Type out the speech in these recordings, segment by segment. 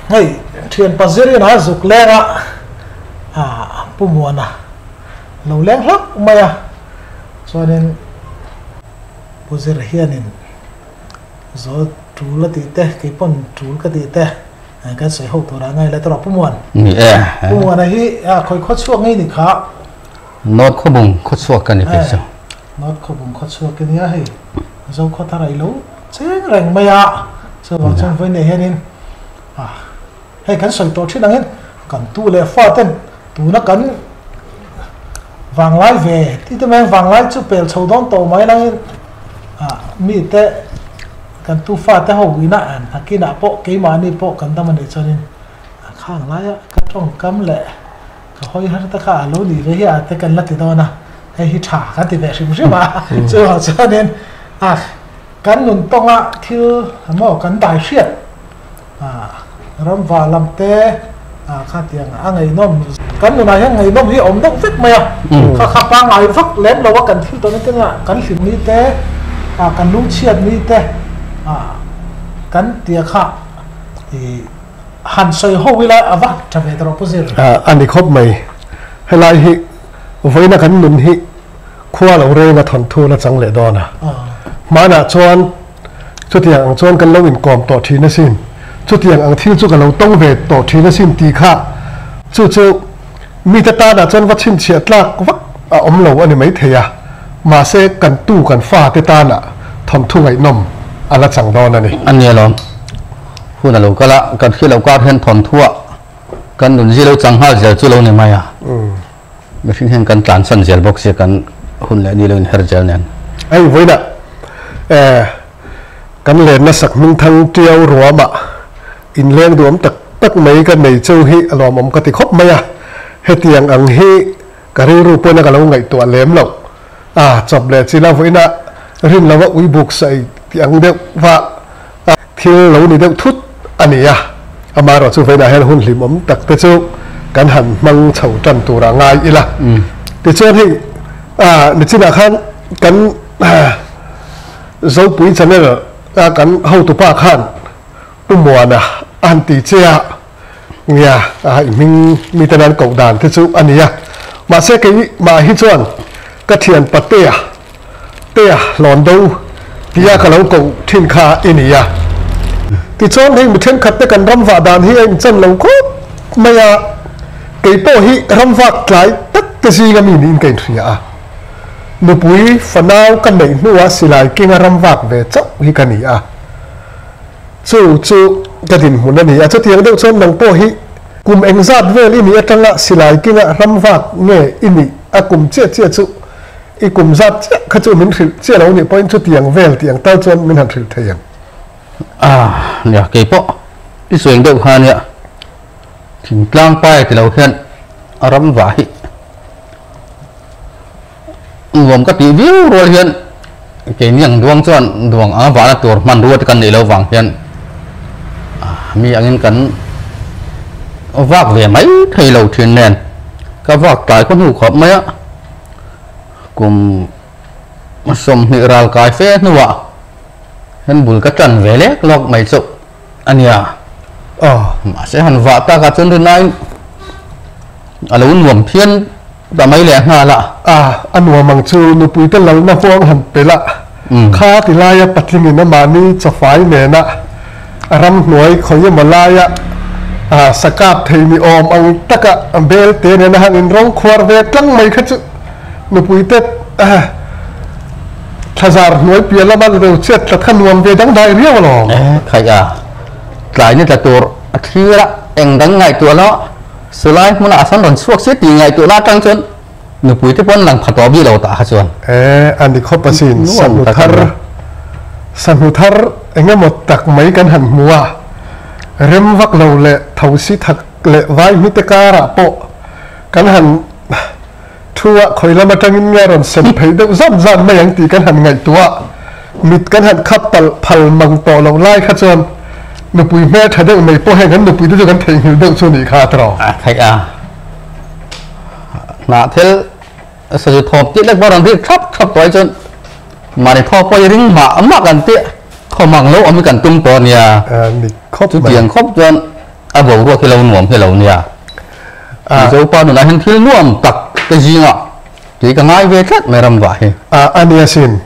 hei thian pa zir ina zuk leng a ah pu muana lo leng hlauh mai a chuanin pu zir hianin zo tul a tih te kei pawn tul ka tih te an kan sawi ho tur ah ngai la tawrh a pu muan pu muana hi khawi khaw chhuak ngei ni kha. Note khawbung khawchhuak ka ni thei chu. Note khawbung khawchhuak ka nia hei zo khaw thar ailo cheng reng mai a chu vang chuan vawi neih hianin ah hei kan sawi tawh thin angin kan tu leh fa ten tuna kan vanglai ve ti te mai a vanglai chu pel chho dawn tawh mai angin ah mite kan tu fa te ho ina an hakinah pawh keimahni pawh kan dam a nih chuanin a khang laia ka tawngkam leh. Ka hawi har tak a, a lo nih ve hi a te kan la ti dawn a, hei hi tha kan ti ve hrim hrim a, chu erawh chuanin a kan nun tawnga thil emaw kan dai hriat a, ramva lam te a khatiang a ngeihnawm kan nunah hian ngeihnawm hi a awm deuh vek mai a, kha kha pangngai vak lem lo a kan thil tawh na tel ah kan hlim ni te a kan lungchhiat ni te a kan tia kha ih. Han sawi ho ila a va tha ve ta rawh pu zir. A ni khawp mai. Helai hi vawiina kan nun hi khua lo reng a thawnthu la chang leh dawn a. Hmanah chuan chutiang ang chuan kan lo inkawm tawh thin asin. Chutiang ang thil chu ka lo tawng ve tawh thin asin ti kha chu chu mite tanah chuan va chhinchhiah tlak vak a awm lo a ni mai thei a. Mahse kan tu kan fate tanah thawnthu ngaihnawm a la chang dawn a ni. A ni alawm. Hun a lo kal a, kan khi lo kar hian thawnthuah kan nun zilo chang nghal zel chu lo ni mai a, mihring hian kan tlan san zel bawk si kan hun leh ni lo in her zel nen. A invawiina kan len lasak hming thang ṭiau ruamah in leng duhawm tak tak mai ka nei cheu hi a nuam awm ka ti khawp mai a, hetiang ang hi. Ka rilru pawn a ka lo ngaihtuah lem lo. A chawp leh chin a vawiin a rin lo a ui buk sawi tih ang deuh va a thil lo ni deuh thut a ni a. Amaherawh chu vawiin ah hian hun hlim awm tak te chu kan han hmang chho tan tur a ngai ila. Tichuan hei a ni chin ah khan kan Zopui channel a kan hotu pa khan Pu Muana a han ti che a. Nia a inhming mite nan koh dan te chu a ni a, mahse keimah hi chuan ka thian pa Tea, Tea Hlawndu tia ka lo koh thin kha i ni a. Tichuan hei mi thenkhat te kan ram vah dan hi a inchhan lo khawp mai a, keipawh hi ramvak tlai tak te zinga mi niin ka inhria a, nupui fanau ka neih hnuah Silai Kinga ramvak ve chauh hi ka ni a. Chu chu ka dinhmun a ni a, chutiang deuh chuan nang pawh hi kum eng zat vel i nih atanga silai kinga hram vak nge i nih? A kum chiah chiah chu i kum zat chiah kha chu min hrilh chiah lo nih pawhin chutiang vel tih ang tal chuan min han hrilh thei ang. Aah nia, kei pawh i suaing deuh kha nia, thingtlang pai ti lo hian a ram vah hi. nuam ka tih viau rual hian keini ang duang chuan duang anga vahna tur hmanrua te kan neih lo vang hian mi angin kan vak ve mai thei lo thin nen ka vak tlai ka hnu khawp mai a kum sawmhnih ral kai fe hnuah hian bul ka tan ve lek lawk mai chu a nia aw mahse han vah takah chuan rinaiin a lo nuam phian Tah mai leh a nghal a. Ah, a nuam ang chu nupuite lalna huang han pe lah kha ti laia patlingin amahni chawfai nena a ram hnuai khawi emaw laia sakap thei ni awm ang taka belte nena han inrawng khuar ve tlang mai kha chu nupuite thlazar hnuai piah lama lo chhiat tlat kha nuam ve dang dai riau alawm. Khaih a, tlai ni tla tur a thlir a, eng dang ngaih tuah loh. Sulai hmuna a san rawn chhuak si tih ngaihtuahna atang chuan nupui te pawh an lang pha tawh bik lo tah kha chuan. E, a ni khawp asin, sahnu thar, sahnu thar engemaw tak mai kan han hmu a, rem vak lo leh thosi thak leh vai hmite karah pawh kan han. Thu ah khawi lam atangin nge rawn sem phei deuh zawt zan mai ang tih kan han ngaihtuah mit kan han khap palh phal mang tawh loh lai kha chuan nupui hmel tha deuh mai pawh heng an nupui te chu kan theihnghilh deuh chu a nih kha Tro. A theih a, hnah thil sawzi thawp tih lek pawh a rawn rik thlap thlap tawh hi chuan mahni thaw pawh hi ring mah mah kan tih thaw mang lo awm hi kan tum tawh a nia, chutiang khawp chuan a boruak hi lo nuam hi lo nia. Tui zopa nunah hian thil nuam tak te zinga tui ka ngai ve tlat mai ramvah hi. A a ni asin.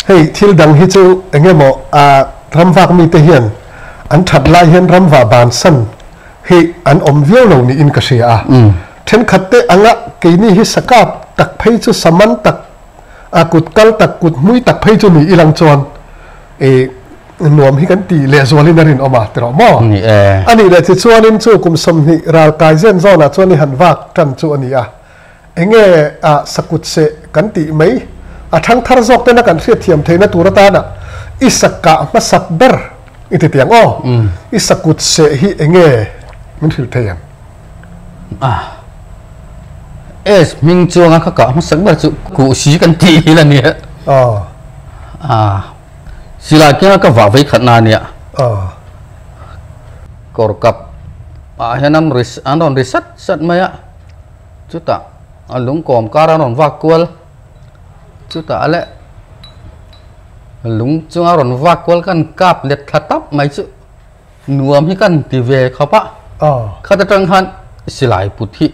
Hei thil dang hi chu eng emaw a ramvak mite hian an that lai hian ramvah ban san hi an awm viau lo niin ka hria a. Thenkhat te anga keini hi sakap tak phei chu saman tak a kut kal tak kut hmui tak phei chu ni i lang chuan. I nuam hi kan tih leh zualin a rinawm a ti rawh maw? A ni e. A nih leh tichuanin chu kum sawmhnih ral kai zen zawnah chuan i han vak tan chu a ni a. Enge a sakut seh kan tih mai. A thang thar zawk ten a kan hriatthiam theihna tur atanah i sakka hmasak ber i ti tiang aw. I sakut seh hi enge min hrilh thei ang? ah es hming chuang a kha kah hmasa ber chu kuh si kan ti hi la nia oh ah silai keng ka vah vei khat na nia oh kor kap ah hian an ris an rawn ri sat sat mai a chuta a lung kawm kar an rawn vak kual chuta a le lung chunga rawn vak kual kan kap let thla tap mai chu Nuam hi kan ti ve khawp a, khat atang khan silai put hi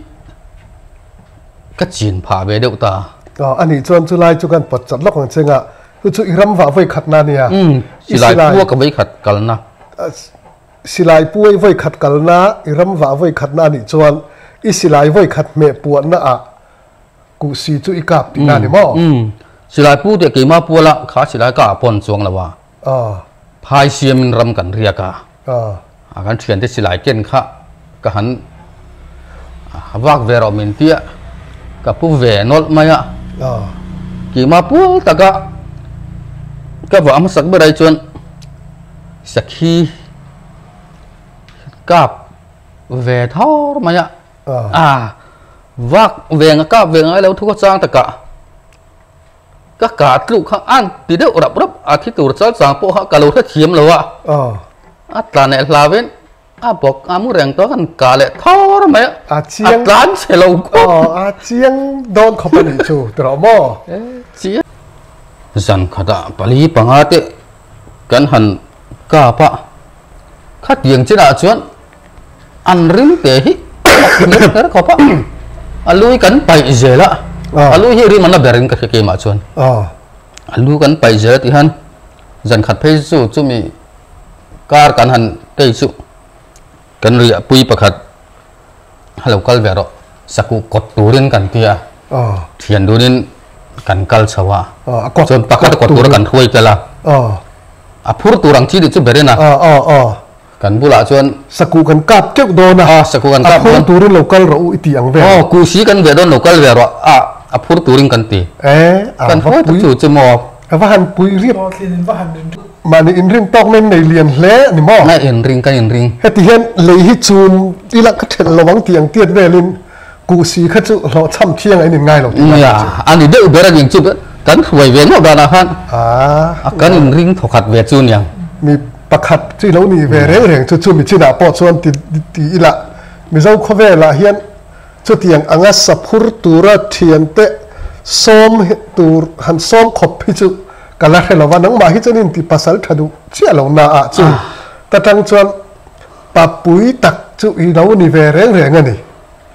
ka chin phah ve deuh ta. Aw, a nih chuan chu lai chu kan pawt chat lawk ang che ngah, chu chu i ram vah vawikhat na nia? Umm, silai pu a ka vawikhat kal na. Silai pu i vawikhat kal na, i ram vah vawikhat na a nih chuan i silai vawikhat hmeh puan na ah kuh si chu i kap ti na ni maw? Umm, silai pu teh keimah pu a lah kha silai ka ah pawn chuang lo a. Phai siamin ram kan riak a, a kan thiante silai ken kha ka han vak ve rawh min tia ka pu ve nawlh mai a, kima pual taka ka va hmasak ber ai chuan sakhi kap ve thar mai a, vak veng a kap veng ang ilo thu ka chang takah. Ka kar tluk kha an ti deuh rap rap a, thi tur chal chang pawh kha ka lo hrethiam lo a, a tla neh hlav in a bawk a mu reng chuan a rawn kah leh thawr mai a, a tlan che lo khawp. A chiang dawn khawp a nih chu ti rawh maw? Chiang. Zan khat ah pali panga te kan han kap a, khatiang chin ah chuan. an rim te hi a ti ber ber khawp a a lui kan paih zel a a lui hi rim an la ber in ka hre kemah chuan a lu kan paih zel a tih hian zan khat phei chu chumi kar kan han kei chu kan riah pui pakhat ha lo kal ve rawh saku kawt turin kan tia thian dunin kan kal chho a chuan pakhat a kawt tur a kan hruai tel a a phur tur ang chi tih chu berin a Kan bulah chuan. Sakû kan kâp keuh dâwn a. Aw, sakû kan kâp dâwn. A phur tûrin lo kal rawh u i tih ang ve ang. Aw, kû si kan ve dâwn lo kal ve rawh a, a phur tûrin kan ti. Ae, a va pui. Chu chu maw? A va han pui riat. Aw, tlin in va han rin riat. Mahni in rin tâwk nen nei lian hle a ni maw? Nge in ring, kan in ring. Hetihian lei hi chûm i lang ka ṭhelh lo ang tih ang tiat vêlin. Kuh si kha chu hlawhchham thiang a in in ngai lo tih nia chu. A ni deuh ber angin chu kan hruai ve ngauh danah khan a kan in ring thawkhat ve chu nia. Mi pakhat chu i lo nih ve reng reng chu chumi chinah pawh chuan ti ti ila, Mizo khawvelah hian chutiang anga saphur tura thian te sawm tur han sawm khawp hi chu ka la hre lova, nangmah hi chuan in ti pasal tha duh chiah lohna ah chu ta tang chuan Papui tak chu i lo ni ve reng reng a ni.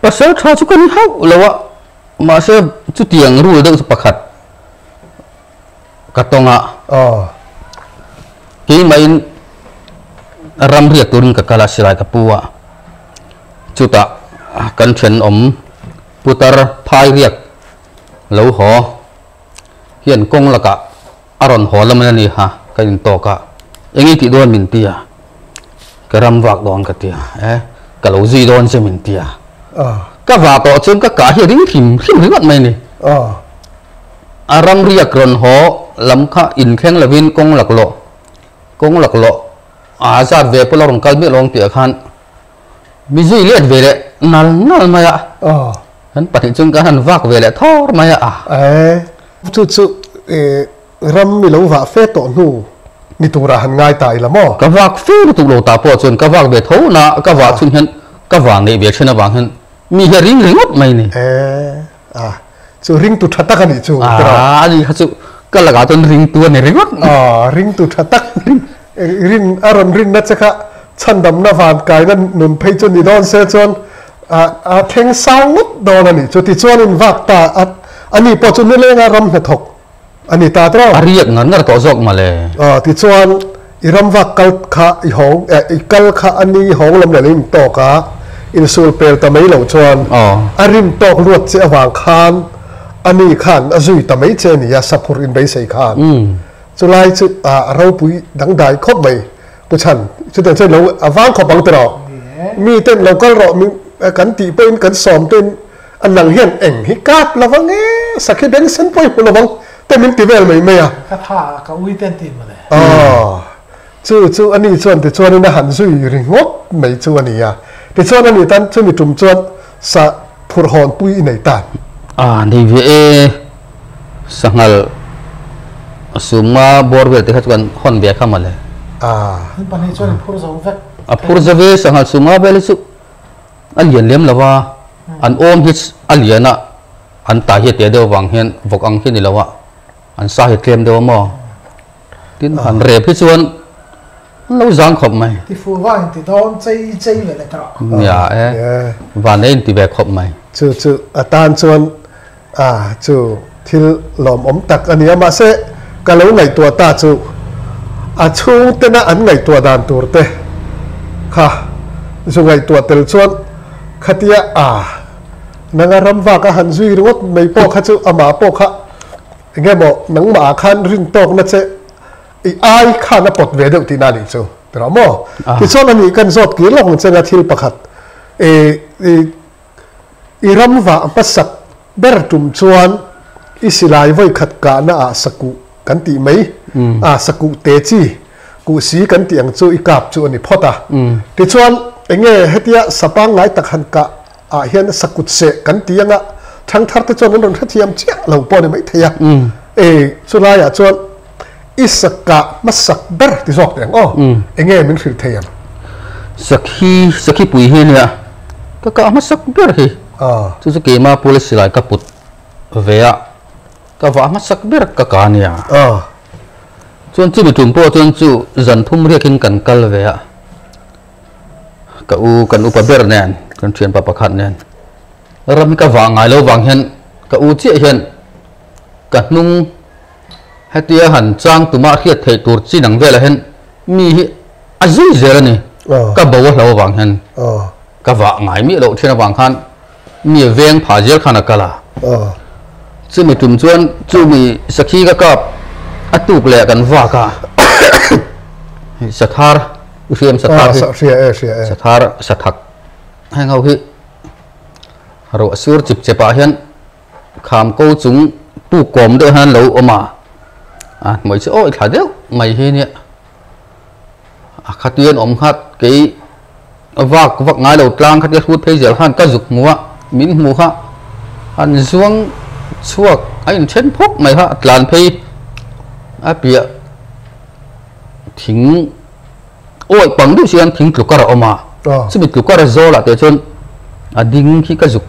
Pasal tha chu ka ni hauh lo a, mahse chutiang rule deuh chu pakhat ka tawng a. Aw. Keimahin ram riat turin ka kal a, Silai ka pu a. Chutah kan thenawm putar phai riak lo haw hian kawng lakah. A rawn haw la mai a ni ha, ka in tawk a, eng i tih dawn min ti a, ka ram vak dawn ka ti a, e ka lo zui dawn che min ti a, ka va tawh chuan ka kah hi a ring hlim hlim ringawt mai a ni, a ram riak rawn haw lam kha in thleng lo in kawng lak lawh kawng lak lawh aa zat ve pawh la rawn kal miah lo ang tih ah khan, Busy let ve leh nal nal mai a an pahnih chuan khan an vak ve leh thar mai a. Ae chu chu eh ram i lo vah fe tawh hnu ni turah han ngai ta ila maw? Ka vak fe lutuk lo ta pawh chuan ka vak ve tho na ka vah chhun hian ka vang leh ve thin avang hian mi hi a ring ringawt mai a ni. Ae. Ah chu ringtu tha tak a nih chu ka rawh. Ah a ni kha chu ka lakah chuan ringtu a ni ringawt mai. Ah ringtu tha tak rin a rawn rinna che kha chhandamna van kaina nun phei chu ni dawn se chuan a theng sang ngawt dawn a nih chu tichuanin vak ta a ni pawh chu nileng a ram hnathawk a ni ta trawk. A riak ngar ngar tawh zawk mah le. Aw, tichuan i ramvak kal kha i hawng, eh, i kal kha a ni hawng lam leh lo in tawk a, in sul pel ta mai lo chuan a rim tawk luat che avang khan a ni khan a zui ta mai che a ni a, saphur in beisei khan. Chu lai chu ah a ropui dangdai khawp mai. Pu Chan, chutiang chuan lo avang khawp ang tirh aw, miten lo kal rawh, kan tih pawhin kan sawm tein. A nang hian eng hi kât lo vang e, sakhi bengsen pawh i hmu lo vang te min ti vel mai mai a. Ka tha a, ka ui te an tih mawle. Aw, chu chu a ni chuan tichuanin a han zui ri ngawt mai chu a nia. Tichuan a nih tan chumi tum chuan sa phurh hawn pui i nei tan. A nei ve e, sanghalh a sumnga bawr vel te kha chu kan hawn bia kha mawle. A. Min pahnih chuan i phur zo vek. A phur zo ve, sanghalh sumnga vel hi chu a lian lem lo va, An awm hi a lian a, an tai hi a tia deuh vang hian vawk ang hi ni lo a, an sa hi a tlem deuh a maw? Tin, han rep hi chuan an lo zang khawp mai. Tifu va inti dawn chei chei ve le tawh. Nia e, Vanei a inti ve khawp mai. Chu chu atan chuan. A, chu thil lawmawm tak a nia. Mahse, ka lo ngaihtuah ta chu a chhungtena an ngaihtuah dan turte kha zu ngaihtuah tel chuan khatia a nanga ram vak a han zui ringawt mai pawh kha chu amah pawh kha engemaw nangmahah khan rin tawkna che i ai khan a pawt ve deuh tihna a nih chu ti rawh maw? Tichuan a nih kan zawt kir lawk ang chenga thil pakhat i I ramvah pa sak ber tum chuan i silai vawikhat kahna ah sakuh kan tih mai a, sakuh te chi kuh si kan tih ang chu i kap chu a ni phawt a. Tichuan, enge hetia sa pangngai tak han kah ah hian sakut seh kan ti anga thangthar te chuan an rawn hrethiam chiah lo pawh a ni maithei a, e chulai ah chuan, I sakka hmasak ber ti zawk te ang aw, enge min hrilh thei ang? Sakhi, Sakhipui hi a nia, ka kah hmasak ber hi, chu chu keima policy lai ka put ve a, ka vah hmasak ber ka kah a nia. Chuan chumi tum pawh chuan chu zan phum riak in kan kal ve a, ka u, kan upa ber nen, kan thianpa pakhat nen, ram hi ka vah ngai lo vang hian ka u chiah hian ka hnung, Hetia han chang tumah hriat theih tur chin ang velah hian mi hi a zui zel a ni. Ka bo a hlo avang hian ka vah ngai miah loh ṭhin avang khan mi a veng pha zel khan a kal a. Chumi tum chuan chu mi sakhi ka kap a tuk leh kan vak a. Hei Sathar i hriam Sathar hi, Sathar, Sathak heng ho hi ruah sur chip chep ah hian, Kham ko chung pu kawm deuh hian lo awm a, a hmeichhe awih thla deuh mai hi nia, a khatia an awm nghat, kei vak vak ngai lo tlang khatia hlut phei zel khan ka zuk hmu a, min hmu kha, an zuang chhuak a in then phawk mai kha, a tlan phei a piah thing. Awi pang duh chuan thing tlukar a awm a, chumi tlukar a zawl ah teh chuan a ding khi ka zuk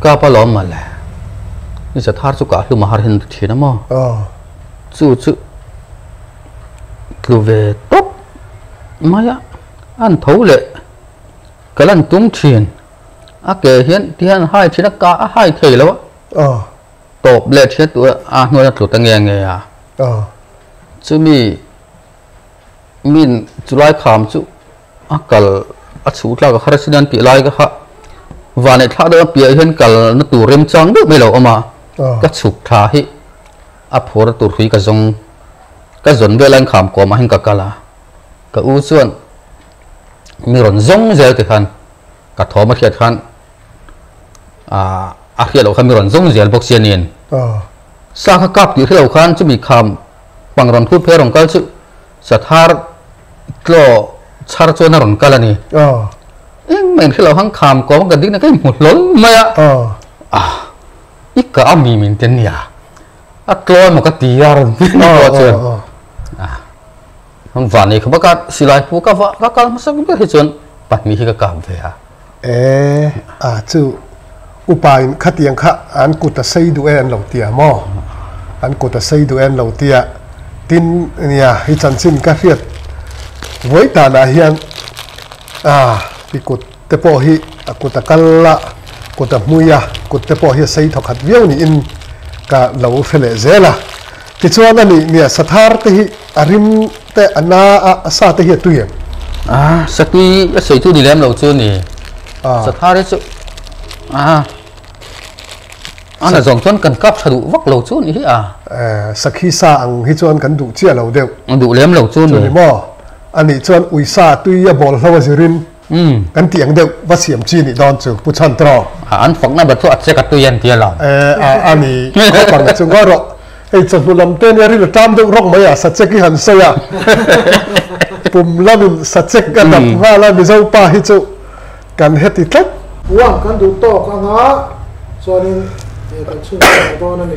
kap a lawm male. I za thar chu kah hlum a har hen ri thin a maw? Chu chu tlu ve tawp mai a, an tho leh ka lan tum thin. A ke hian ti hian a hai thin a, kah a hai thei lo a, tawp leh thian tûr a hnuaia tlu ta nge nge a. Chumi Min chulai kham chu a kal a chhu tlak a kha resin an tih lai ka kha vanei thla deuh a piah ah hian kalna tur rem chang deuh mai lo awm a ka chhuk thla hi a phur tur hrui ka zawng ka zawn vel a in kham kawm ah hian ka kal a ka u chuan mi rawn zawng zel te khan ka thawm a hriat khan a hriat loh khan mi rawn zawng zel bawk si a nen sa kha kap tih hre lo khan chumi kham Hmang rawn phut phei a rawn kal chiuh. Sathar tlaw chhar chuan a rawn kal a ni. Engmah in hrilh loh hang kham kawng ka dikna kei hmu hlawl mai a. Ah, i kah a mi min ti a nia. A tlawi maw ka ti a a rawn ti a ni pawh chuan. Ah. Heng van nei kha bak a silai pu ka va ka kal hmasa ber hi chuan pahnih hi ka kap ve a. E, a chu upa in khatiang kha an kut a sei duh e an lo ti a maw? An kut a sei duh e an lo ti a, tin nia hi chanchin ka hriat vawi tanah hian a i kut. Te pawh hi a kut a kal a, kut a hmui a, kut te pawh hi a sei thaw khat viau niin ka lo hre leh zel a. Tichuan a nih nia, sa thar te hi a rim te a na a, a sa te hi a tui em? Aa, sa tui a seitu ni lem lo chu a ni. Aa. Sa thar hi chu, aa, an a zawng chuan kan kap tha duh vak lo chu a ni hi a. Aa, sa khi sa ang hi chuan kan duh chiah lo deuh. A duh lem lo chu a ni. Chu ni maw? A nih chuan ui sa tui a bawl hlo a zir in. Kan tih ang deuh, va siam chi nih dawn chu Pu Chan Traw. A an fakna bat chu a check a tui a ni tia lo. E, a a ni, khawp ang a chu ngawih rawh. Hei chawhnu lam te nia ril a ṭam deuh rawk mai a, sa check hi han sawi a. Pum lam in sa check a dap nghal a, Mizo pa hi chu kan heti tlat. Pu ang kan duh tawk ang a, chuan in kan chhun chho dawn a ni.